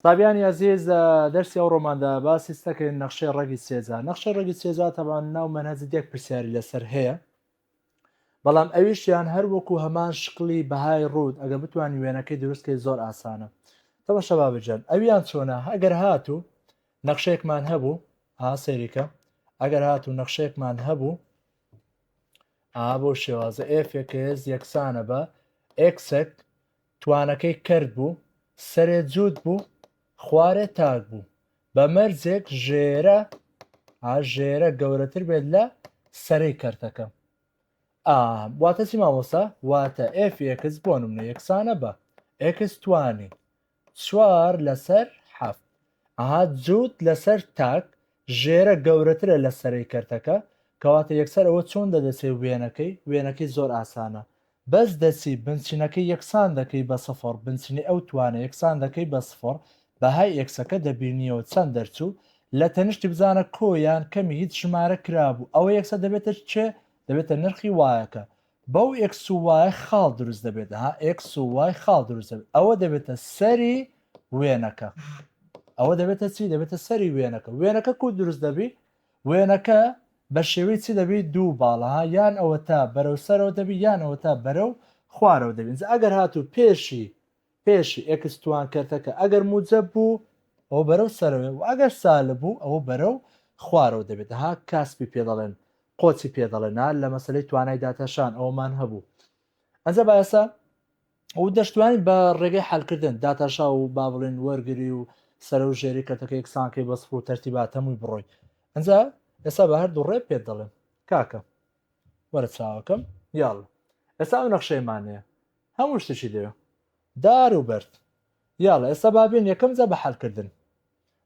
سابیانی ئەزیز لە دەرسی ئەو ڕۆماندا باسی ستەکەی نەخشەی ڕەگی سێجا نەخشەی ڕەگی سێجا تەبان ناو مەنهەجی دێک پرسیاری لەسەر هەیە بەڵام ئەویشیان هەر وەکو هەمان شکلی بەهای ڕوود ئەگە بتوانین وێنەکەی دروستکەی زۆر ئاسانە تەوە شەبا بجەن ئەویان چۆنە ئەگەر هاتوو نەخشێکمان هەبوو ها سەیریکە ئەگەر هاتوو نەخشێکمان هەبوو ئا بۆ شێوازە ئێفێکێز یەکسانە بە ئێکسێک توانەکەی کەرت بوو، سەرێ جووت بوو، خوارێ تاک بوو. بە مەرجێک ژێرە، ئا، ژێرە گەورەتر بێت لە سەرەی کەرتەکە. ئا، واتە چی مامۆستا؟ واتە ئێفی ئێکس بۆ نموونە یەکسانە بە، ئێکس توانی چوار لەسەر حەفت. ئەها جووت لەسەر تاک ژێرە گەورەترە لە سەرەی کەرتەکە کەواتە یەکسەر ئەوە چۆن دەدەچێ وێنەکەی وێنەکەی زۆر ئاسانە بەس دەچی بنچینەکەی یەکسان دەکەی بە سفڕ بنچینەی ئەو توانە یەکسان دەکەی بە سفڕ بەهای ئێکسەکە دەبینیەوە چەند دەرچوو لە تەنیشتی بزانە کۆ یان کەمی هیچ ژمارە کرابوو ئەوە یەکسەر دەبێتە چ دەبێتە نرخی وایەکە بەو ئێکس و وایە خاڵ دروست دەبێت ها ئێکس و وای خاڵ دروست دەبێت ئەوە دەبێتە سەری وێنەکە ئەوە دەبێتە چی دەبێتە سەری وێنەکە وێنەکە کو دروست دەبی وێنەکە بە شێوەی چی دەبی دوو باڵها یان ئەوە تا بەرەو سەرەوە دەبی یانەوە تا بەرەو خوارەوە دەبین ئەگەر هاتوو پێشی پێش، ئێکس توان کەرتەکە ئەگەر موجەب بوو ئەوە بەرەو سەرەوەیە و ئەگەر سالب بوو ئەوە بەرەو خوارەوە دەبێت ها کاسپی پێ دەڵێن قۆچی پێ دەڵێن ها لە مەسەلەی توانای داتاشان ئەوەمان هەبوو ئەنجا بایەسە ئەو دەشتوانین بە ڕێگەی حلکردن داتاشا و با بڵێن وەرگری و سەر و ژێری کەرتەکە یەکسانکەی بەسڕ و تەرتیبات هەمووی بڕۆی ئەنجا ئێستا بە هەردوو ڕێ پێت دەڵێن کاکە وەرە چاوەکەم یاڵڵە ئێستا ئەو نەخشەیەمان هەیە هەموو شتێکی لێوە دار و بەرد یاڵە ئێستا با بێن یەکەم جا بە حەلکردن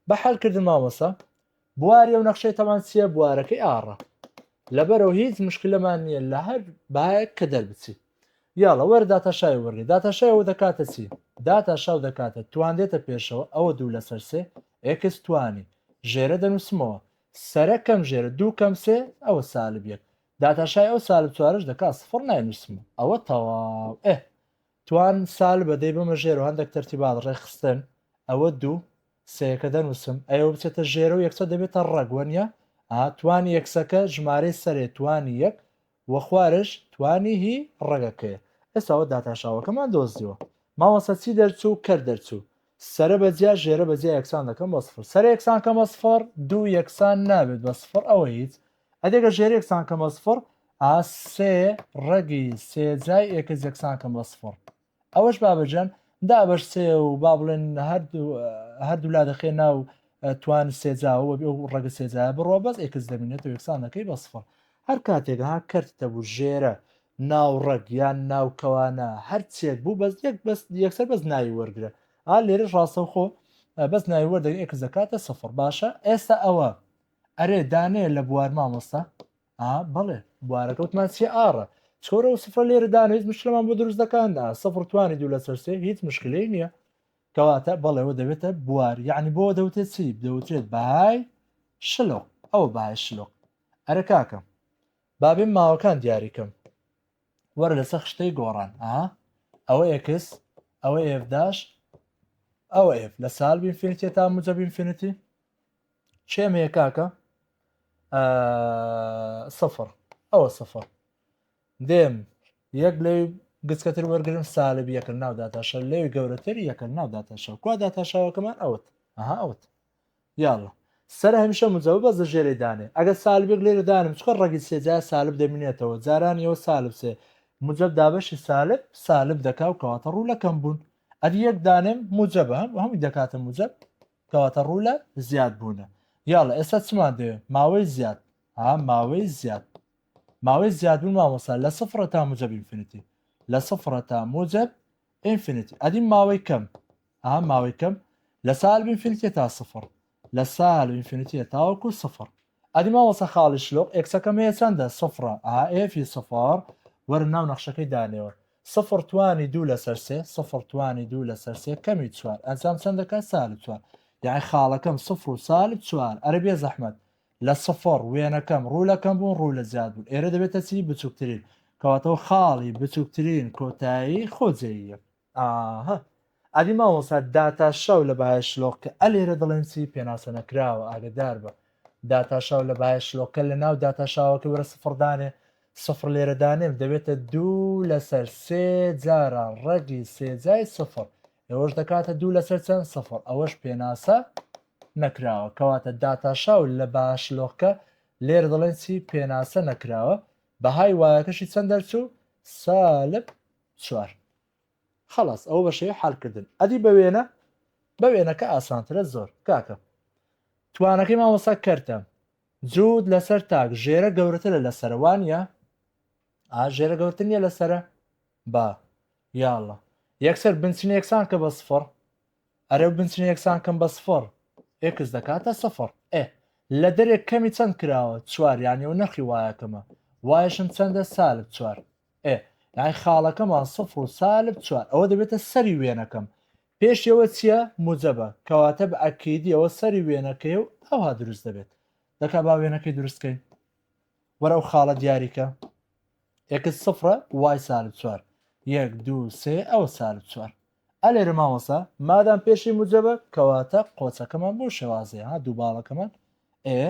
بە حەلکردن مامۆسا بواری ئەو نەخشەی تەمان چییە بوارەکەی ئاڕە لەبەرەوە هیچ مشکلەمان نییە لە هەر باەک کە دەربچی یاڵە وەرە داتاشای وەرگێ داتاشای ئەو دەکاتە چی داتاشاو دەکاتە توان دێتە پێشەوە ئەوە دوو لەسەر سێ ئێکس توانی ژێرە دەنووسمەوە سەرە کەم ژێرە دوو کەم سێ ئەوە سالب یەک داتاشای ئەو سالب چوارەش دەکا سفڕ ناینووسمە ئەوە تەواو ئێ توان سالبە دەی بمە ژێر و هەندێک تەرتیبات ڕێکخستن ئەوە دوو سەیەکە دەنووسم ئەوە بچێتە ژێرە و یەکسە دەبێتە ڕەگوەنیە ئاتوانی یەکسەکە ژمارەی سەرێ توانی یەک وە خوارش توانی هی ڕەگەکەیە. ئێستاوە داتاشاوەکەمان دۆزیوە مامۆستا چی دەرچوو کەر دەرچوو سەرە بە جیا ژێرە بە جیا یەکسان دەکەم بە سفر سەرە یەکسان کەم بە سفر دوو یەکسان نابێت بە سفر ئەوە هیچ ئەدی گەر ژێرە یەکسان کەم بە سفر ئا سێ ڕەگی سێ جای ئێکس یەکسان کەم بە سفر ئەوەش بابەجان دابەشسێ و با بڵێن هەردوولا دەخێ ناو توان سێجاوە بێ و ڕەگە سێجا بڕۆ بەس ئێکس دەبینێتەوە یەکسانەکەی بەسفڵ هەر کاتێک ها کەرت دەبوو ژێرە ناو ڕەگ یان ناو کەوانە هەر چێک بوو بەس یەک بەس یەکسەر بەس ناوی وەرگرە ئا لێرە ڕاستەوخۆ بەس ناوی وەردەگە ئێکس دەکاتە سفر باشە ئێستا ئەوە ئەرێ دانێ لە بوار مامۆستا ئا بەڵێ بوارەکە وتمان سێ ئاڕە چۆرە و سفرە لێرە دان هیچ مشکلمان بۆ دروست دەکاندا سفر توانی دوو لە سەرسێ هیچ مشکلی نییە کەواتە بەڵێەوە دەبێتە بوار یعنی بۆ دەوتێت چی دەوترێت بەهای شلۆ ئەو بای شلۆ ئەرە کاکەم بابێ ماوەکان دیاریکەم وەرە لەسەر خشتەی گۆڕان ئا ئەوە ئێکس ئەوە ئێفداش ئەوە ئێف لە سال بینفینیتە تا مجە بینفینیتی کێم هەیە کاکە سفر ئەوە سفر دێم یەک لەی گچکەتر وەرگرم سالب یەکە ناو داتاشە لەوی گەورەتر یەکە ناو داتاشەوە کوا داتاشاوەکەمان ئەوت ئەها ئەوت یاڵە سەر هەمیشە مجەوە بەس لە ژێرەی دانێ ئەگە سالبێک لێرە دانم چکە ڕگی سێجا سالب دەمینێتەوە جاران یەوە سالب سێ مجەب دابەشی سالب سالب دەکا و کەواتە ڕوو لەکەم بوون ئەدی یەک دانێم مجەبە هەم هەمووی دەکاتە مجەب کەواتە ڕوو لە زیاد بوونە یاڵە ئێستا چمان دەوێ ماوەی زیاد ها ماوەی زیاد ماوەی زیاد بوون مامۆسا لە سفرە تا موجب ئینفینیتی لە سفرە تا موجب ئینفینیتی ئەدی ماوەی کەم ها ماوەی کەم لە سالب ئینفینیتی تا سفر لە سالب ئینفینیتی تاوەکو سفر ئەدی مامۆستا خاڵی شلوق ئێکسەکەم هەیە چەندە سفرە ئا ئێفی سفر وەرە ناو نەخشەکەی دانێوە سفر توانی دوو لەسەر سێ سفر توانی دوو لەسەر سێ کەمی چوار ئەنجام چەند دەکات سالب چوار یاعی خاڵەکەم سفر و سالب چوار ئەرە بێ زەحمەت لە سفر وێنەکەم ڕوو لە کەم بوون ڕوو لە زیاد بوون ئێرە دەبێتە چی بچووکترین کەواتەوە خاڵی بچووکترین کۆتایی خۆجێییە ئاهە ئەدی مامۆسا داتاشاو لە بایە شلۆقکە ئە لێرە دەڵێن چی پێناسە نەکراوە ئاگدار بە داتاشاو لە بایە شلۆکە لە ناو داتاشاوەکە وەرە سفردانێ سفر لێرە دانێم دەبێتە دوو لەسەر سێ جاران ڕەگی سێجای سفر ئەوەش دەکاتە دوو لەسەر چەند سفر ئەوەش پێناسە نەکراوە کەواتە داتاشاو لە باش لۆکە لێر دەڵێن چی پێناسە نەکراوە بەهای وایەکەشی چەند دەرچوو سالب چوار. خەڵاس ئەوە بەشێوەی حەل کردن ئەدی بە وێنە بە وێنەکە ئاسانترە زۆر کاکە توانەکەی مامۆسا کەرتە جوود لەسەر تاک ژێرە گەورەترە لە سەروانە ئا ژێرە گەورتن نیە لەسرە با یاڵە یەکسەر بنچین یەکسان کە بە سفڕ ئەرە بنچین یەکسان کەم بە سفڕ ئێکس دەکاتە سفر ئێ لە دەرێک کەمی چەند کراوە چوار یانەوە نرخی وایەکەمە وایشم چەندە سالب چوار ئێ یانی خاڵەکەمان سفر و سالب چوار ئەوە دەبێتە سەری وێنەکەم پێشەوە چییە موجەبە کەواتە بە ئەکیدی ئەوە سەری وێنەکەی و ئەوها دروست دەبێت دەکا با وێنەکەی دروستکەین وەرە ئەو خاڵە دیاریکە ئێکس سفرە وای سالب چوار یەک دوو سێ ئەوە سالب چوار ئەلێرە مامۆستا مادام پێشی موجەبە کەواتە قۆچەکەمان بەو شێوازەیە ها دوو باڵەکەمان ئێ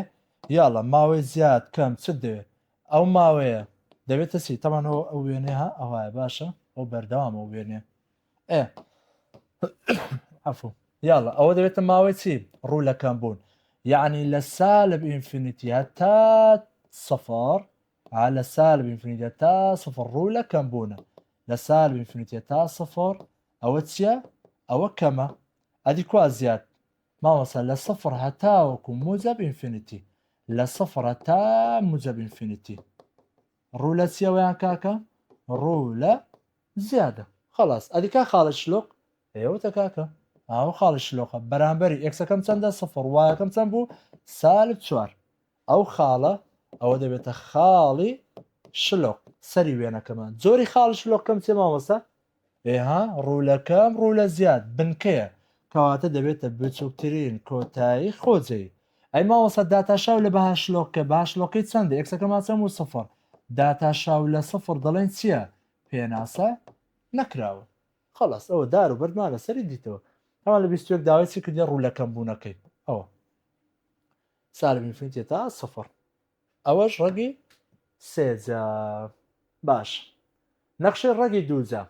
یاڵا ماوەی زیاد کەم چت دەوێت ئەو ماوەیە دەبێتە چی تەمانەوە ئەو وێنێ ها ئەوایە باشە ئەو بەردەوامە و وێنێ ئێ عفو یاڵە ئەوە دەبێتە ماوەی چی ڕوولەکەم بوون یعنی لە سالب ئینفینیتیە تا سەفار ها لە سالب ئینفینیتێ تا سفر ڕوو لە کەم بوونە لە سالب ئینفینیتێ تا سفر ئەوە چییە ئەوە کەمە ئەدی کوا زیاد مامەسە لە سفر هەتاوەکو موجب ئینفینیتی لە سفر هەتا موجب ئینفینیتی ڕوو لە چیەوەیان کاکە ڕوو لە زیادە خلاص ئەدیکا خاڵە شلۆق ئێوەتە کاکە ئاو خاڵە شلۆقە بەرامبەری ئەکسەکەم چەندە سفر وایەکەم چەند بوو سالب چوار ئەو خاڵە ئەوە دەبێتە خاڵی شلۆق سەری وێنەکەمان زۆری خاڵی شلۆقکەم چێ مامۆستا ئێها ڕوولەکەم ڕوولە زیاد بنکەیە کەواتە دەبێتە بچووکترین کۆتایی خۆجێی ئەی مامۆستا داتاشاو لە بەهاشلۆکە باشلۆکەی چەندە ئەکسەکەمان چەم و سفر داتاشاو لە سفر دەڵێن چییە پێناسە نەکراوە خلاص ئەوە دار و بەردمان لەسەری دیتەوە هەمان لە بیستێک داوای چی کردی ڕوولەکەم بوونەکەی ئەوە سالب انفینتی تا سفر ئەوەش ڕەگی سێجا باش نەخشەی ڕەگی دووجا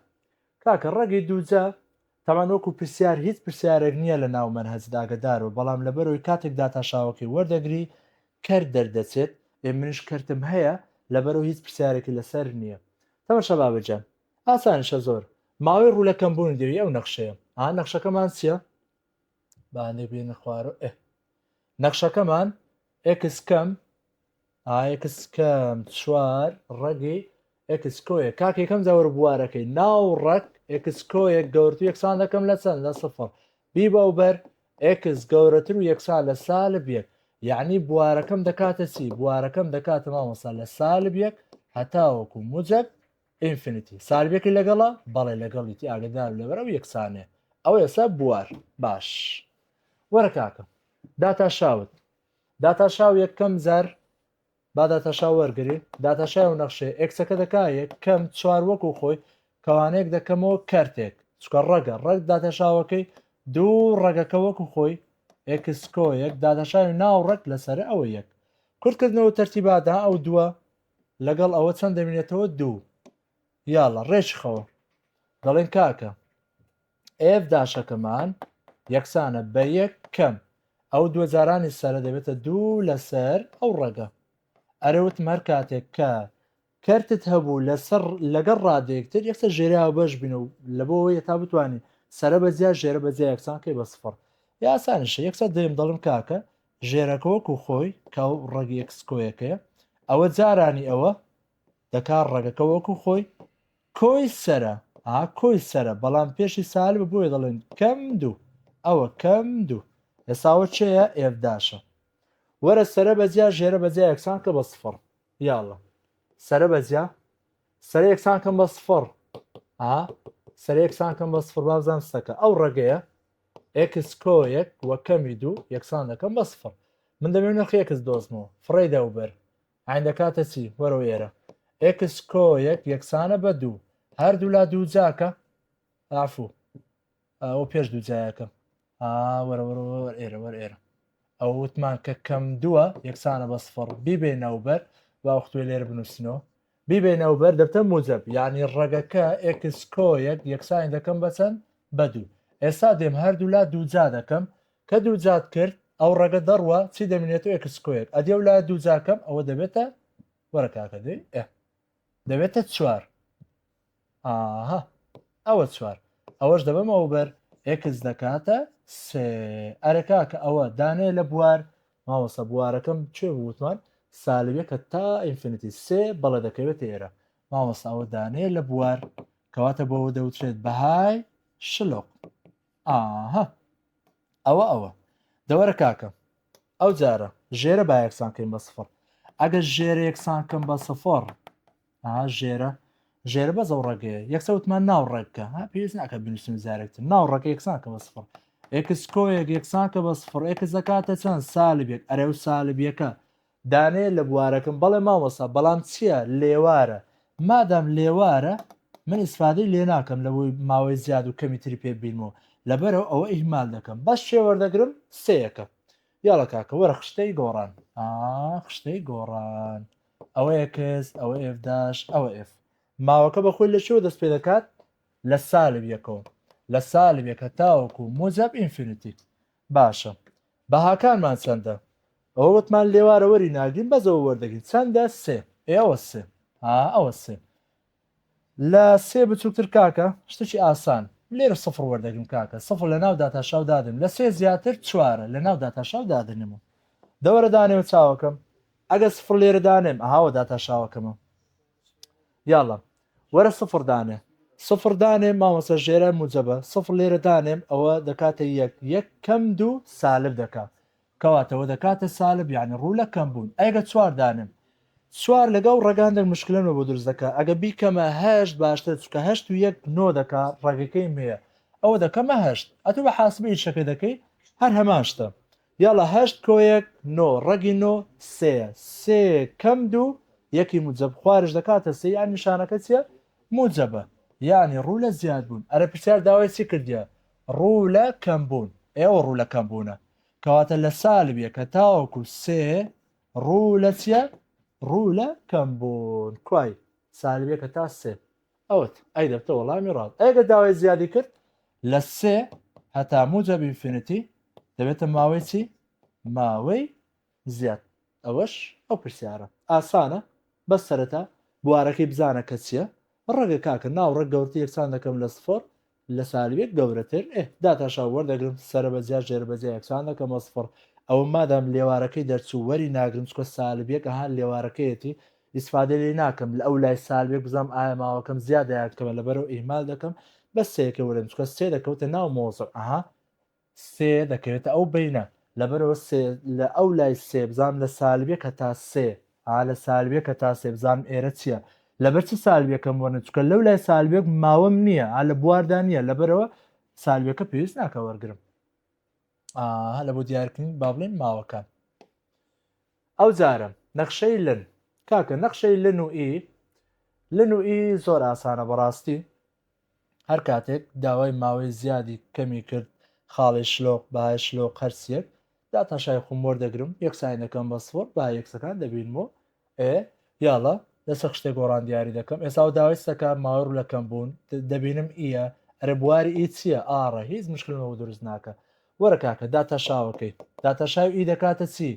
کاکە ڕەگی دووجا تاوان وەکو پرسیار هیچ پرسیارێک نییە لە ناو مەنهەج داگەدارو بەڵام لەبەرەوەی کاتێک داتاشاوەکەی وەردەگری کەرت دەردەچێت ئێ منیش کەرتم هەیە لەبەرەوە هیچ پرسیارێکی لەسەر نییە تەمە شەبابە جان ئاسانیشە زۆر ماوەی ڕوو لە کەمبوونی دێوی ئەو نەخشەیە ئا نەخشەکەمان چییە؟ بانێ بێنە خوارەوە ئێ نەخشەکەمان ئێکس کەم ئاکس کەم چوار ڕەگی ئێکسکۆیە کاک یەکەم جاوەر بوارەکەی ناو ڕەک ئێکسکۆیەک گەورتو یەکسان دەکەم لە چەند لە سفر بی بە بەر ئێکس گەورەتر و یەکسان لە سال بێت یعنی بوارەکەم دەکاتە چی بوارەکەم دەکاتە مامۆسا لە سال بێک هەتاوەکو مجد ئینفینیتی ساربێکی لەگەڵە بەڵێ لەگەڵیتی ئاگدار لەبەر ئەو یەکسانێ ئەو ئێستا بوار باش وەرە کاکە داتا شاوت داتا شاو یەکەم زار با داتا شاو وەرگری داتا شاو نەخشێ ئەکسەکە دەکا یەکەم چوار وەک و خۆی کەوانێک دەکەمەوە کەرتێک چکە ڕەگە ڕەگ داتا شاوەکەی دوو ڕەگەکە وەک و خۆی ئەکسکۆ یەک داتا شاوی ناو ڕەگ لەسەر ئەوە یەک کورتکردنەوە تەرتیبادا ئەو دووە لەگەڵ ئەوە چەند دەمینێتەوە دوو یاڵە ڕێشخەوە دەڵێن کاکە ئێف داشەکەمان یەکسانە بە یەک کەم ئەو دووە جارانی سەرە دەبێتە دوو لەسەر ئەو ڕەگە ئەرەوت مەر کاتێک کە کەرتت هەبوو لەسەر لەگەڵ ڕادێکتر یەکسە ژێراوە بەش بین و لە بۆەوەی تا بتوانین سرە بەجیا ژێرە بەجیا یەکسان کەی بە سفر یاسانیشە یەکسە دەیم دەڵم کاکە ژێرەکە وەکو خۆی کە ئەو ڕەگی ئەکسکۆیەکەیە ئەوە جارانی ئەوە دەکا ڕەگەکە وەکو خۆی کۆی سرە ئا کۆی سرە بەڵام پێشی سال بە بۆیە دەڵێن کەم دوو ئەوە کەم دوو ئێساوە چەیە ئێفداشە وەرە سرە بەجیا ژێرە بەجیا یەکسان کە بە سفڕ یاڵە سرە بەجیا سەر یەکسان کەم بە سفڕ ئا سەر یەکسان کەم بە سفر بابزان سەکە ئەو ڕێگەیە ئێکس کۆ یەک وە کەمی دوو یەکسان دەکەم بە سفڕ من دەمێ نرخی ئێکس دۆزمەوە فڕێ دە و بەر عین دەکاتە چی وەرەوە ئێرە ئێکس کۆ یەک یەکسانە بە دوو هەردوو لا دوو جاکە ئافو ئەو پێش دوو جایەکە وەرە وەرە وەر ئێرە وەر ئێرە ئەو وتمان کە کەم دووە یەکسانە بە سفڕ بیبێ ناوبەر باوەختوێ لێر بنووسنەوە بیبەینەوە بەر دەفتەر موجەب یانی ڕەگەکە ئێکس کۆیەک یەکسانی دەکەم بە چەند؟ بە دوو ئێستا دێم هەردوولا دووجا دەکەم کە دووجات کرد ئەو ڕەگە دەڕوا چی دەمینێتەوە ئێکس کۆیەک ئەدی ئەو لایە دووجاکەم ئەوە دەبێتە وەرە کاکە دەی ئێ دەبێتە چوار ئاها ئەوە چوار ئەوەش دەبەمەوە بەر ئێکس دەکاتە سێ ئەرە کاکە ئەوە دانێ لە بوار ماوەسە بوارەکەم کوێ بوتمان سالبەکە تا ئینفینیتی سێ بەڵێ دەکەوێت ئێرە ماوەسە ئەوە دانێ لە بوار کەواتە بۆەوە دەوترێت بەهای شلۆق ئاها ئەوە ئەوە دەوەرە کاکە ئەو جارە ژێرە با یەکسانکەین بە سفر ئەگەر ژێرە یەکسانکەم بە سفر ها ژێرە ژێرە بەس ئەو ڕێگەیە یەکسە وتمان ناو ڕێککە ها پێویست ناکە بنووسین زارێکتر ناو ڕێک یەکسانکە بە سفر ئێکس کۆیەک یەکسانکە بە سفر ئێکس دەکاتە چەند سالبێک ئەرێ و سالبیەکە دانێ لە بوارەکەم بەڵێ مامۆسا بەڵام چییە لێوارە مادام لێوارە من ئیسفادەی لێ ناکەم لەوەی ماوەی زیاد و کەمی تری پێ بینمەوە لەبەرەوە ئەوە ئیهمال دەکەم بەس شێ وەردەگرم سەیەکە یاڵە کاکە وەرە خشتەی گۆڕان خشتەی گۆڕان ئەوە ئێکس ئەوە ئێف داش ئەوە ئێف ماوەکە بە خۆی لە چۆ دەست پێ دەکات لە سالب یەکەوە لە سالب یەکە تاوەکو موجب ئینفینیتی باشە بەهاکانمان چەندە ئەوە وتمان لێوارە وەری ناگرین بەزەوە وەردەگرین چەندە سێ ئێوە سێ ئەوە سێ لە سێ بچوکتر کاکە شتکی ئاسان لێرە سفر وەردەگرم کاکە سفر لە ناو داتاشاو دادنم لە سێ زیاتر چوارە لە ناو داتاشاو دادنم و دەوەرە دانێوە چاوەکەم ئەگەر سفر لێرە دانێم ئەهاوە داتاشاوەکەمە یاڵە وەرە سفر دانێ سفر دانێم مامۆسە ژێرە موجەبە سفر لێرە دانێم ئەوە دەکاتە یەک یەک کەم دوو سالب دەکا کەواتە وەدەکاتە سالب یانی ڕوو لە کەم بوون ئەگە چوار دانێم چوار لەگە و ڕەگان دەک مشکلە نۆ بۆ دروست دەکا ئەگە بیکەمە هەشت باشترە چونکە هەشت و یەک نۆ دەکا ڕەگەکەی مێە ئەوە دەکەمە هەشت ئەتو بە حاسبە ئیشەکەی دەکەی هەر هەمان شتە یاڵا هەشت کۆ یەک نۆ ڕەگی نۆ سێیە سێ کەم دوو یەکی موجەب خوارش دەکاتە سێ یان نیشانەکە چیە موجەبە یانی ڕوو لە زیاد بوون ئەرە پرسیار داوای چی کردیە ڕوو لە کەم بوون ئێوە ڕوو لە کەم بوونە کەواتە لە سالب یەکە تاوەکو سێ ڕوو لە چیە ڕوو لە کەم بوون کوای سالب یەکە تا سێ ئەوت ئەی دەبتە وەڵامی ڕاست ئەگە داوای زیادی کرد لە سێ هەتا موجە بینفینەتی دەبێتە ماوەی چی ماوەی زیاد ئەوەش ئەو پرسیارە ئاسانە بەس سەرەتا بوارەکەی بزانە کە چیە ڕەگە کاکە ناو ڕەگ گەورتر یەکسان دەکەم لە سفڕ لە سالبێک گەورەتر ئێ داتا شاو وەردەگرم سەرە بە جیا ژێرە بە جیا یەکسان دەکەمە سفڕ ئەوە مادام لێوارەکەی دەرچوو وەری ناگرم چکە سالب یەک ئەها لێوارەکەیەتی ئیسفادە لێی ناکەم لە ئەو لای سالبێک بزام ئایا ماوەکەم زیادە یان کەمە لەبەرەو ئیهمال دەکەم بەس سێەکەی وەرم چکە سێ دەکەوتە ناو مۆزە ئەها سێ دەکەوێتە ئەو بەینە لەبەرئەوە سێ لە ئەو لای سێ بزانم لە سالب یەک هەتا سێ ها لە سالب یەک هەتا سێ بزانم ئێرە چیە لەبەر چی سالب یەکەم وەرنە چونکە لەو لای سالب یەک ماوەم نییە ها لە بواردا نییە لەبەرەوە سالب یەکە پێویست ناکە وەرگرم ئا لە بۆ دیارکردن با بڵێن ماوەکان ئەو جارم نەخشەی لن کاکە نەخشەی لن و ئی لن و ئی زۆر ئاسانە بەڕاستی هەر کاتێک داوای ماوەی زیادی کەمی کرد خاڵی شلۆق بەهای شلۆق هەرسیەک داتاشای خوم وەردەگرم یەکسانی دەکەم بە سفر بە یەکسەکان دەبینم و ئێ یاڵە لەسەر خشتێک گۆڕان دیاری دەکەم ئێسا و داوای سەکە ماوەی ڕوو لەکەم بوون دەبینم ئیە ئەرە بواری ئی چییە ئاڕە هیچ مشکلمەوە دروست ناکە وەرە کاکە داتاشاوەکەی داتاشاو ئی دەکاتە چی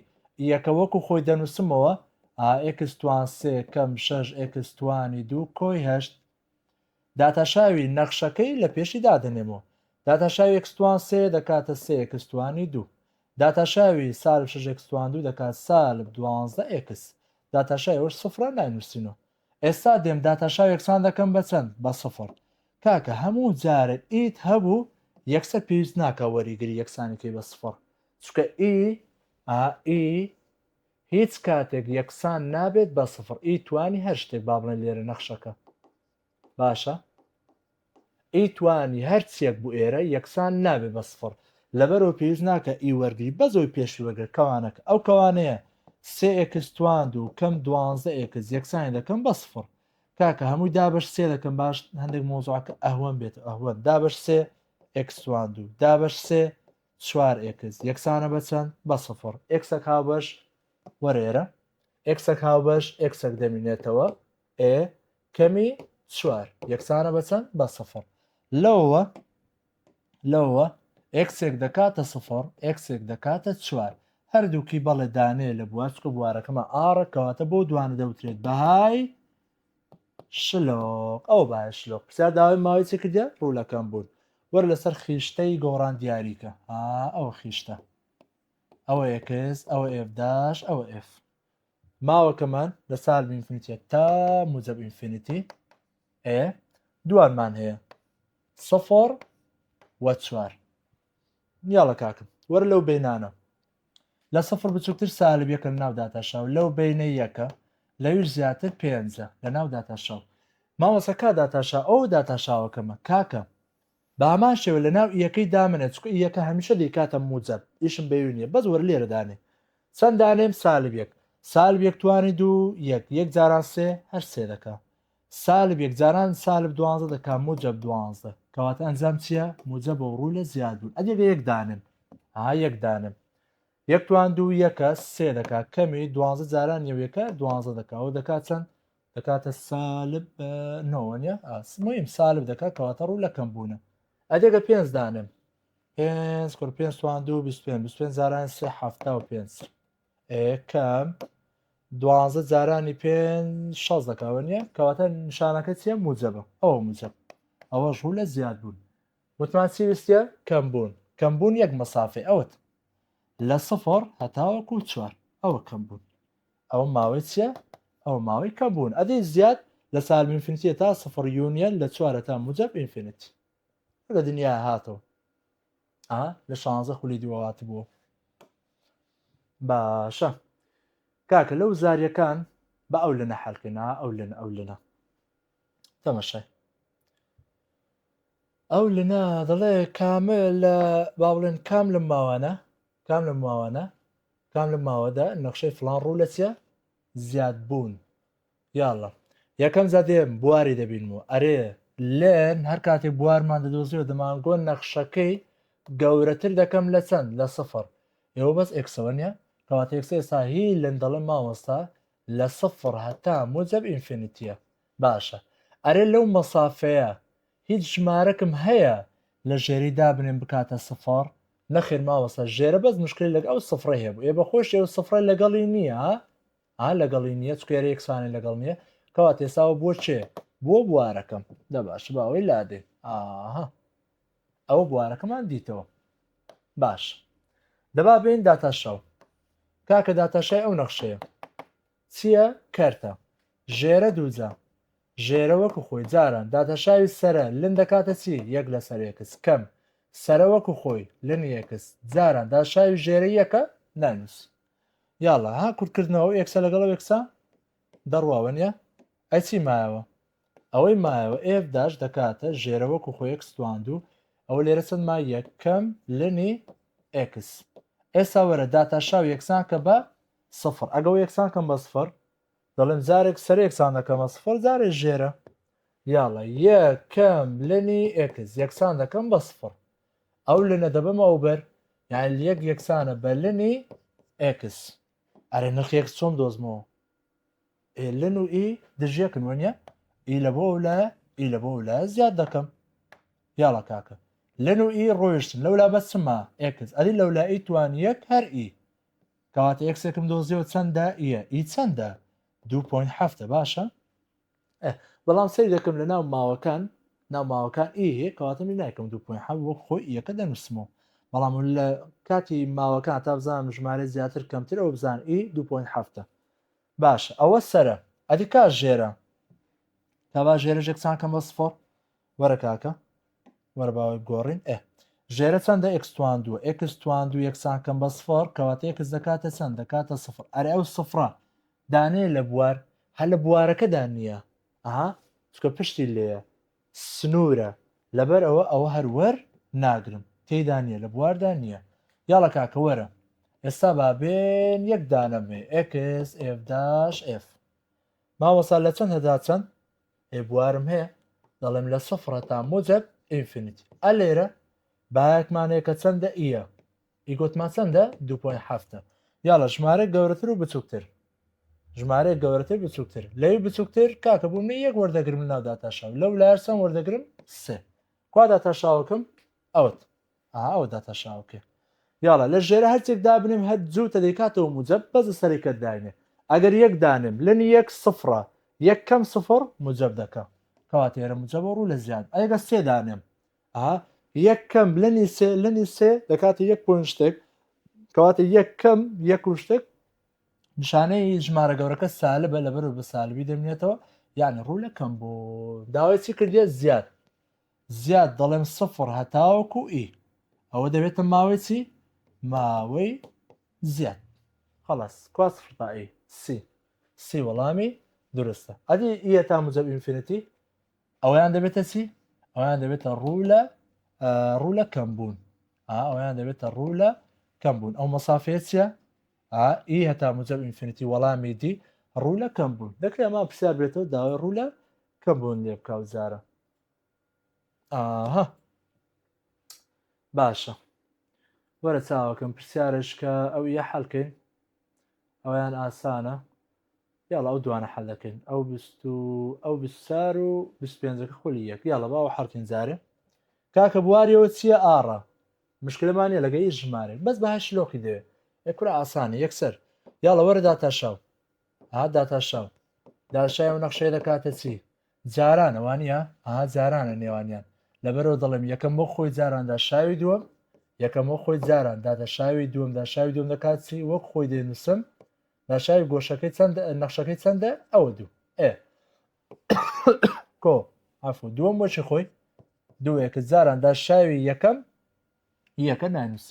یەکە وەکو خۆی دەنووسمەوە ئا ئێکستوان سێ کەم شەش ئێکستوانی دوو کۆی هەشت داتاشاوی نەخشەکەی لە پێشی دادەنێمەوە. داتاشاوی ئەکستوان سێ دەکاتە سێ ئێکستوانی دوو. داتاشاوی سالب شەش ئێکستوان دوو دەکات سالب دوانزدە ئێکس. داتاشاوی ئەوەش سفرە ناینووسینەوە. ئێستا دێم داتاشاوی یەکسان دەکەم بە چەند؟ بە سفر. کاکە هەموو جارێ ئیت هەبوو یەکسەر پێویست ناکا وەریگری یەکسانی کەی بە سفر چونکە ئی ئا ئی هیچ کاتێک یەکسان نابێت بە سفڕ ئی توانی هەر شتێک با بڵێن لێرە نەخشەکە باشە ئی توانی هەر چیەک بوو ئێرە یەکسان نابێت بە سفڕ لەبەرەوە پێویست ناکە ئی وەرگری بەزۆی پێشی وەگرە کەوانەکە ئەو کەوانەیە سێ ئێکس توان دوو کەم دوانزە ئێکس یەکسانی دەکەم بە سفڕ کاکە هەمووی دابش سێ دەکەم باش هەندێک مۆزوعکە ئەهوەن بێت ئەهوەن دابش سێ ئێکس توان دوو دابش سێ چوار ئێکس یەکسانە بە چەند؟ بە سفر. ئێکسەک هاوبەش وەرە ئێرە. ئێکسەک هاوبەش ئێکسەک دەمینێتەوە ئێ کەمی چوار یەکسانە بە چەند؟ بە سفر. لەوە لەوە ئێکسێک دەکاتە سفر ئێکسێک دەکاتە چوار. هەردووکی بەڵێ دانێ لە بوارچکە بوارەکەمە ئاڕە کەواتە بۆ دوانە دەوترێت بەهای شلۆق، ئەوە بایە شلۆق. پرسیار داوای ماوەی چ کردە؟ ڕوولەکەم بوون. وەر لەسەر خیشتەی گۆڕان دیاریکە. ها ئەوە خیشتە. ئەوە ئێکس، ئەوە ئێف داش، ئەوە ئێف. ماوەکەمان لە سالب ئینفینیتە تا موجب ئینفینیتی ئێ دوانمان هەیە سەفۆر وە چوار یاڵە کاکم وەرە لەو بینانە لە سفر بچووکتر سالب یەکە لە ناو داتاشاو لەو بینە یەکە لەویش زیاتر پێنجە لە ناو داتاشاو ماوەسە کا داتاشا ئەو داتاشاوەکەمە کاکە بامان شێوە لە ناو یەکەی دامنێت چکە یەکە هەمیشە دیکاتە موجەب ئیشم بەوی نیە بەس وەر لێرە دانێ چەند دانێم سالب یەک سالب یەک توانی دوو یەک یەک جاران سێ هەر سێ دەکە سالب یەک جاران سالب دوانزە دەکا موجب دوانزە کەواتە ئەنجام چییە موجب و ڕوو لە زیاد بوون ئەدێ بە یەک دانم ها یەک دانم یەک توان دوو یەکە سێ دەکا کەمی دوانزە جاران یەوەکە دوانزە دەکا ئەو دەکا چەند دەکاتە سالب نۆوەە ئاسمیم سالب دەکا کەواتە ڕوو لەکەم بوونە ئەدێ بە پێنج دانم پێنج کوڕ پێنج توان دوو بیست پێ بیست پێنج جاران سێ حفتا و پێنج کەم دوانزە جارانی پێ شەز دەکەوە نیە کەواتە نیشانەکە چیە موجەبە ئەوە موجەب ئەوە ژوو لە زیاد بوون وتمان چی ویستە کەم بوون کەم بوون یەک مەسافی ئەوت لە سفر هەتاوەکو چوار ئەوە کەم بوون ئەوە ماوەی چیە ئەو ماوەی کەم بوون ئەدی زیاد لە سالمینفینسیە تا سفر یونیەن لە چوارە تا موجەب ئینفینیت لە دنیا هاتەوە لە شانزە خولی دووەواتی بووە باشە کاکە لەو زاریەکان بە ئەو لەنە حەلکەنا ئەو لەن ئەو لەنە تەمەشای ئەو لەنا دەڵێ کامە لە با بڵێن کام لە ماوانە کام لە ماوانە کام لە ماوەدا نەخشەی فلان ڕوو لە چە زیاد بوون یااللە یەکەم جا دێم بواری دەبینم و ئەرێ لێن هەر کاتێ بوارمان دەدۆزیەوە دەمانگۆ نەخشەکەی گەورەتر دەکەم لە چەند لە سفر ئێوە بەس ئێکسەوە نیە کەواتە ئێکسە ئێستا هی لێن دەڵێ مامۆستا لە سفر هەتا موجب ئینفینیتیە باشە ئەرێ لەو مەسافەیە هیچ ژمارەکم هەیە لە ژێری دابنێن بکاتە سفر نەخێر ماوەسە ژێرە بەس مشکلی لەگە ئەو سفرە هەیە بوو ئێ بە خۆش ئێوە سفرە لەگەڵی نییە ها لەگەڵی نییە چکە یارە یەکسانە لەگەڵ نییە کەواتە ئێساوە بۆ چێ بۆ بوارەکەم دە باش با ئەوەی لادێ ئاها ئەوە بوارەکەمان دیتەوە باش دەبا بین داتاشەوە کاکە داتاشای ئەو نەخشەیە چییە کەرتە ژێرە دووجا ژێرە وەکو خۆی جاران داتاشاوی سرە لن دەکاتە چی یەک لە سەرێکس کەم سرە وەکو خۆی لن یەکس جاران داشاوی ژێرە یەکە نانوس یاڵا ها کورتکردنەوە ئەو ئێکسە لەگەڵ ئەو ئێکسە دەڕواوە نیە ئەی چی مایەوە ئەوەی مایەوە ئێف داش دەکاتە ژێرە وەکو خۆ ئێکس تواندو ئەوە لێرە چەند ما یەکەم لەنی ئێکس ئێستا وەرە داتا شاو یەکسان کە بە سفر ئەگە و یەکسان کەم بە سفر دەڵێم جارێک سەر یەکسان دەکەمە سفر جارێ ژێرە یاڵە یەکەم لەنی ئێکس یەکسان دەکەم بە سفر ئەو لنە دەبەمەوە بەر یان یەک یەکسانە بە لنی ئێکس ئەرێ نرخی ئێکس چۆم دۆزمەوە ئێ لن و ئی دژیەکن وەنیە ئی لە بۆ ئەو لایە ئی لە بۆ ئەو لایە زیاد دەکەم یاڵە کاکە لن و ئی ڕۆیشتن لەولا بەسمە ئێکس ئەدی لەولا ئی توان یەک هەر ئی کەواتە ئێکسێکم دۆزیەوە چەندە ئیە ئی چەندە 2.7 باشە ئە بەڵام سەیر دەکەم لە ناو ماوەکان ناو ماوەکان ئی هەیە کەواتە من نایکەم دوو پوین حەب وەک خۆی یەکە دەنووسمەوە بەڵام لە کاتی ماوەکان تا بزانم ژمارە زیاتر کەمتر ئەو بزان ئی دوو پوین هەفتە باش ئەوە سرە ئەدی کا ژێرە تا با ژێرە ژێکسان کەم بە سفۆر وەرە کاکە وەرە باوەی گۆڕین ئێ ژێرە چەندە ئەکسوان دووە ئەکسوان دوو یەکسان کەم بە سفۆر کەواتە ئەکس دەکاتە چەند دەکاتە سفر ئەرێ ئەو سفرە دانەیە لە بوار هە لە بوارەکەدا نیە ئەها چکە پشتی لێیە سنورە لەبەر ئەوە ئەوە هەر وەر ناگرم تێیدا نیە لە بواردا نیە یاڵە کاکە وەرە ئێستا با بێن یەک دانە بێ ئێکس ئێف داش ئێف ماوەسا لە چەند هەدا چەند ئێ بوارم هەیە دەڵێم لە سفرە تا موجب ئینفینیتی ئە لێرە بایەکمانەیە کە چەندە ئیە ئیگۆتمان چەندە دوو پۆین حەفتە یاڵە ژمارە گەورەتر و بچووکتر ژمارەیە گەورەتر بچووکتر لەوی بچووکتر کاکە بوو من یەک وەردەگرم لە ناودا تاشاو لەو لار چەند وەردەگرم سێ کوادا تاشاوەکەم ئەوت ئەودا تاشاوکە یاڵە لە ژێرە هەرچێک دابنیم هەر جووتە دەیکاتەوە موجەب بەزە سەرکە داینێ ئەگەر یەک دانم لەن یەک سفرە یەک کەم سفر موجەب دەکە کەواتێرە موجەبە ڕوو لە زیاد ئەگە سێ دانێم ئا یەک کەم لەنی سێ لەنی سێ دەکاتە یەک پۆین شتێک کەواتە یەک کەم یەک و شتێک نیشانەی ژمارە گەورەکە سالە بە لەبەر بە سالبی دەمێتەوە یعنی ڕوو لە کەم بۆ داوای چی کردە زیاد زیاد دەڵێم سفر هەتاوەکو ئی e. ئەوە دەبێتە ماوەی چی ماوەی زیاد خلاص کوا سفر تا ئی e. سی سی وەڵامی درستە ئەدی ئە e تا مجب ئینفینەتی ئەویان دەبێتە چی ئەویان دەبێتە ڕوو لە ڕوو لە کەم بوون ئەویان دەبێتە ڕوو لە کەم بوون ئەو مەسافەیە چیە ئی هەتا مجب ئینفینیتی وەڵامی دی ڕوو لە کەم بوون دەکرێت ئەمە پرسیار بێتەوە داوای ڕوو لە کەم بوون لێ بکە و جارە ئاها باشە وەرە چاوەکەم پرسیارش کە ئەو یە حەلکەین ئەویان ئاسانە یاڵا ئەو دوانە حەل دەکەین ئەو بیست و ئەو بیست چار و بیست پێنجەکە خولی یەک یاڵە باوە حەڵکەین جارێ کاکە بواریەوە چییە ئاڕا مشکلەمانە لەگە هیچ ژمارێک بەس بەهای شلۆقی دەوێ ئەکورا ئاسانە یەکسەر یاڵە وەرە داتاشاو ها داتاشاو داشای و نەخشەی دەکاتە چی جارانە وانە ها جارانە نێوانیان لەبەرەوە دەڵێم یەکەم بۆ خۆی جاراندا شاوی دووەم یەکەم بۆ خۆی جاران دادە شاوی دووەم دا شاوی دوم دەکات چی وەک خۆی دێنووسم ناشاوی گۆشەکەی چەند نەخشەکەی چەندە ئەوە دوو ئێ کۆ ئەفۆ دووەم وەچی خۆی دووەکە جاراندا شاوی یەکەم یەکە نانووس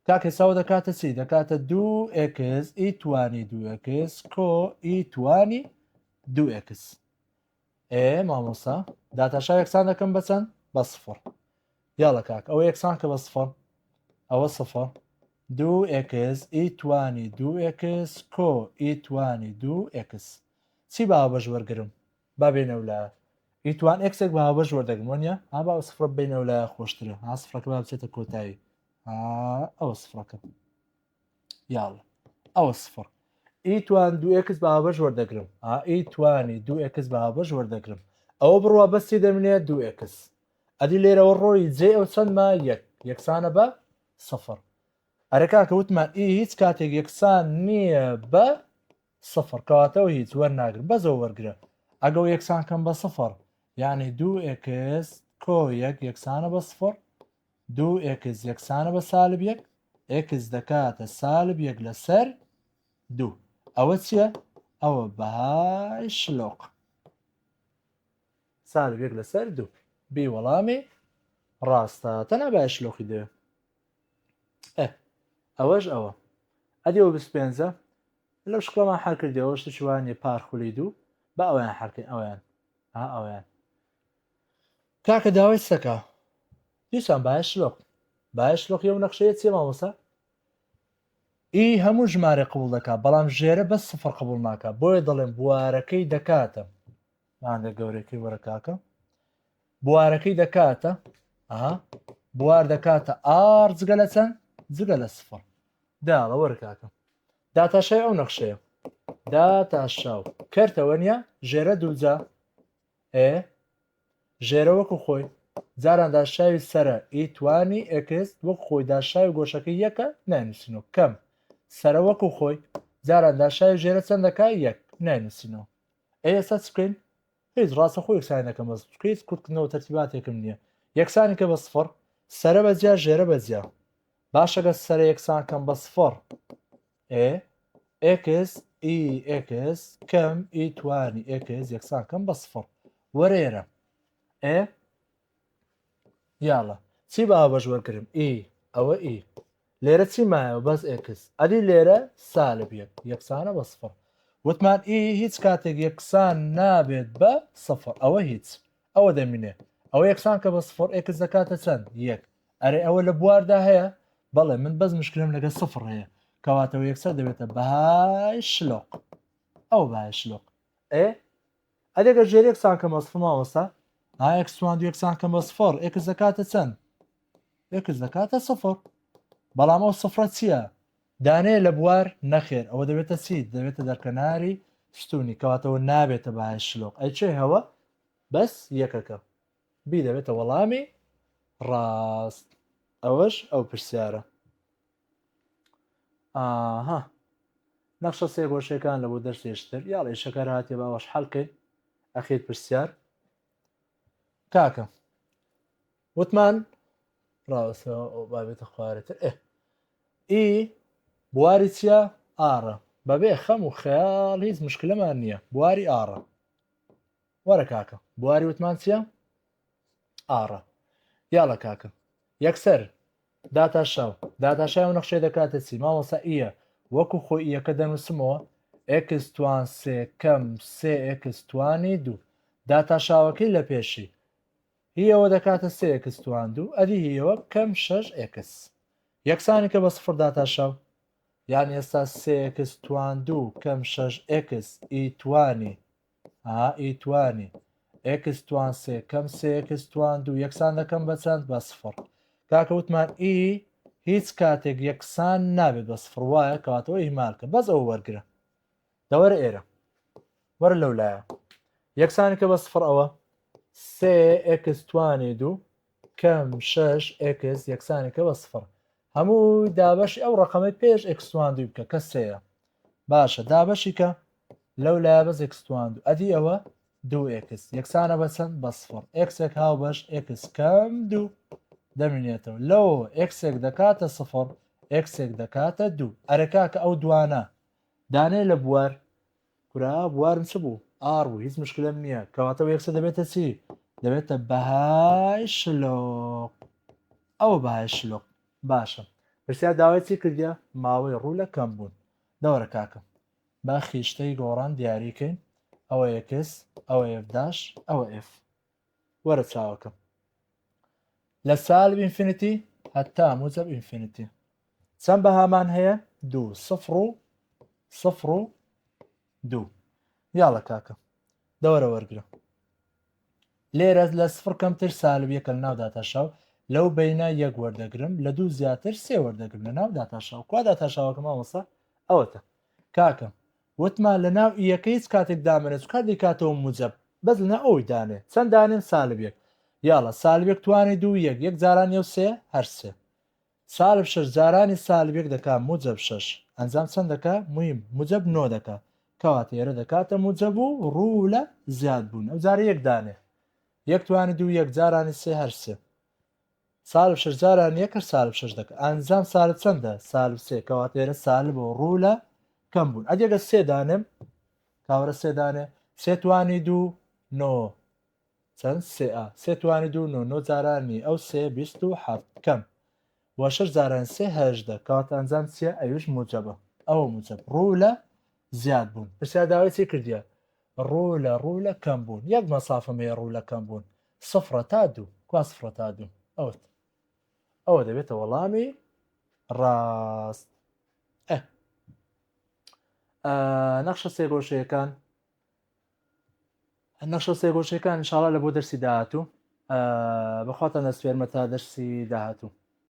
کاک حساو دەکاتە چی دەکاتە دوو ئکس ئی توانی دووکس کۆ ئی توانی دووکس ئێ مامۆسا داتاشا یەکسان دەکەم بەچەند بە سفر یاڵە کاک ئەوە یەکسان کە بە سفر ئەوە سفر دوو ئێکس ئیتوانی دوو ئێکس کۆ ئیتوانی دوو ئێکس چی باوە بەش وەرگرم با بێنە و لە ئیتوان ئەکسێک بە هاوبەش وەردەگم وەنیە ها با سفرە بینەوە لە خۆشترە ها سفرەکە با بچێتە کۆتایی ئەوە سفرەکە یاڵ ئەوە سفر ئی توان دو ئکس بە هاوبەش وەردەگرم ئی توانی دو ئکس بە هاوبەش وەردەگرم ئەوە بڕوا بەسی دەمنێ دو ئکس ئەدی لێرەوە ڕۆی جێ ئەو چەندمە یەک یەکسانە بە سفر ئەرەکا کە وتمان ئی هیچ کاتێک یەکسان نییە بە سفر کەواتەوە هیچ وەرناگرم بەزەوە وەرگرە ئەگە و یەکسان کەم بە سفر یعنی دو ئکس کۆ یەک یەکسانە بە سفر دوو ئێکس یەکسانە بە سالب یەک ئێکس دەکاتە سالب یەک لەسەر دوو ئەوە چییە ئەوە بەهای شلۆق سالب یەک لەسەر دوو بێ وەڵامی ڕاستە تەنا بە شلۆقی دەوێ ئەوەش ئەوە ئەدیەوە بس پێنجە لەو شکڵەمان حەکردەوە شتشوانێ پارخولی دوو بە ئەویان حەکەین ئەویان ئەویان کاکە داوای سەکە دیسان باش لۆق باش لۆق یەو نەخشەیە چێ مامۆسا ئی هەموو ژمارە قبول دەکا بەڵام ژێرە بەس سفر قبول ناکە بۆیە دەڵێن بوارەکەی دەکاتە مادە گەورەکەی وەرە کاکە بوارەکەی دەکاتە ئەها بوار دەکاتە ئار جگە لە چەند جگە لە سفر داڵە وەرە کاکە داتاشای ئەو نەخشەیە داتاشاو کەرتەوە نیە ژێرە دووجا ئێ ژێرە وەکو خۆی جاران داشاوی سەرە ی توانی ئێکس وەک خۆی داشاوی گۆشەکە یەکە ناینوسینەوە کەم سەرە وەکو خۆی جاران داشاوی ژێرە چەندەکە یەک ناینوسینەوە ئەی ئێستا چ بکەین هیچ ڕاستە خۆ یەکسانی دەکەم بەس چونکە هیچ کورتکردنەوە تەرتیباتێکم نییە یەکسانی کە بە سفڕ سەرە بە جیا ژێرە بە جیا باشەگە سەرە یەکسان کەم بە سفڕ ئێ ئێکس ئی ئێکس کەم ئی توانی ئێکس یەکسان کەم بە سفڕ وەرێرە ئێ یاڵە چی باوە بەش وەرگرم ئی ئەوە ئی لێرە چی مایەوە بەس ئێکس ئەدی لێرە سالب یەک یەکسانە بە سفڕ وتمان ئی هیچ کاتێک یەکسان نابێت بە سفر ئەوە هیچ ئەوە دەمینێ ئەوە یەکسان کە بە سفر ئێکس دەکاتە چەند یەک ئەرێ ئەوە لە بواردا هەیە بەڵێ من بەس مشکلم لەگە سفر هەیە کەواتەوە یەکسەر دەبێتە بەهای شلۆق ئەو بە شلۆق ئێ ئەدەگە ژێر یەکسان کە مەسف ماوەستا ئاکسوان یەکسان کە مەسفڕ ئێکس دەکاتە چەند ئێکس دەکاتە سفر بەڵام ئەو سفرە چییە دانەیە لە بوار نەخێر ئەوە دەبێتە چی دەبێتە دەرکەناری ستونی کەواتەوە نابێتە بەهای شلۆق ئەی چێ هەوە بەس یەکەکە بی دەبێتە وەڵامی ڕاست ئەوەش ئەو پرسیارە ئاها نەخشە سێگۆشەکان لە بۆ دەرسێشتر یاڵێ شەکەر هااتێ باوەش حەلکەین ئەخیر پرسیار کاکە وتمان ڕاوەسە بابێتە خوارەتر ئێ ئی بواری چیە ئاڕە بەبێ خەم و خەیاڵ هیچ مشکلەمان نییە بواری ئاڕە وەرە کاکە بواری وتمان چیە ئاڕە یاڵە کاکە یەکسەر داتا شاو داتا شای و نەخشێ دەکاتە چی ماوەسا ئیە وەکو خۆی یەکە دەنووسمەوە ئەکستوان سێ کەم سێ ئەکستوانی دوو داتا شاوەکەی لە پێشی هیەوە دەکاتە سێ ئێکس توان دوو ئەدی هیەوە بکەم شەش ئێکس یەکسانی کە بە سفر داتا شەو یان ئێستا سێ ئێکس توان دوو کەم شەش ئێکس ئی توانی ئا ئی توانی ئێکس توان سێ کەم سێ ئێکس توان دوو یەکسان دەکەم بە چەند بە سفر کاکە وتمان ئی هیچ کاتێک یەکسان نابێت بە سفر وایە کەواتەوە ئیهمالکە بەس ئەو وەرگرە دە وەرە ئێرە وەرە لەو لایە یەکسان کە بە سفر ئەوە سێ ئکس توانی دوو کەم شش ئکس یەکسانی کە بە سفر هەموو دابەشی ئەو ڕقەمەی پێش ئکسوان دوو بکە کە سەیە باشە دابەشی کە لەو لای بەس ئکسوان دوو ئەدی ئەوە دوو ئکس یەکسانە بە چەند بە سفر ئکسێک هاو بەش ئکس کەم دوو دەمینێتەوە لەو ئکسێک دەکاتە سفر ئکسێک دەکاتە دوو ئەرەکە کە ئەو دوانە دانێ لە بوار کورە بوارم چ بوو ئاڕ بوو هیچ مشکلەم نییە کەواتە بە یەکسە دەبێتە چی دەبێتە بەهای شلۆق ئەوە بەهای شلۆق باشە پرسیار داوای چی کردە ماوەی ڕوو لە کەم بوون دەوەرە کاکەم با خیشتەی گۆڕان دیاریکەین ئەوە یەکس ئەوە ئفداش ئەوە ئف وەرە چاوەکەم لە سالب ئینفینیتی هەتا موجب ئینفینیتی چەند بەهامان هەیە دوو سفر و سفر و دوو یاڵە کاکە دەوەرە وەرگرە لێرە لە سفر کەمتر سالب یەکە لە ناو داتاشاو لەو بینە یەک وەردەگرم لە دوو زیاتر سێ وەردەگرم لە ناو داتاشاو کوا داتاشاوەکەم ئەوەسا ئەوەتە کاکە وتمان لەناو ی یەکە هیچ کاتێک دامەنێ چکار دەیکاتەوە موجەب بەس لەناو ئەوەی دانێ چەند دانێم سالب یەک یاڵە سالب یەک توانێ دوو یەک یەک جاران یەو سێ هەر سێ سالب شەش جارانی سالب یەک دەکا موجەب شەش ئەنجام چەند دەکا مویم موجەب نۆ دەکا کەواتە ئێرە دەکاتە موجەب و ڕوو لە زیاد بوون ئەوجارە یەک دانێ یەک توانی دوو یەک جارانی سێ هەر سێ سالب شەش جاران یەکەش سالب شەش دەکە ئانزام سالب چەندە سالب سێ کەواتە ئێرە سالب و ڕوو لە کەم بوون ئەگەگە سێ دانێم کاورە سێ دانێ سێ توانی دوو نۆ چەند سێ سێ توانی دوو نۆ نۆ جارانی ئەو سێ بیست و حەفت کەم بۆ شەش جاران سێ هەژدە کەواتە ئەنجام چیە ئەوش موجەبە ئەو موجەب ڕوو لە زیاد بوون پرسیار داوای چی کردیە ڕوو لە ڕوو لە کەم بوون یەک مەسافەمەیە ڕوو لە کەم بوون سفرە تا دوو کوا سفرە تا دوو ئەوت ئەوە دەبێتە وەڵامی ڕاست نەخشە سێگۆشەکان نەخشە سێگۆشەکان شاڵا لە بۆ دەرسی داهاتوو بەخواتان دەسپێرمە تا دەرسی داهاتوو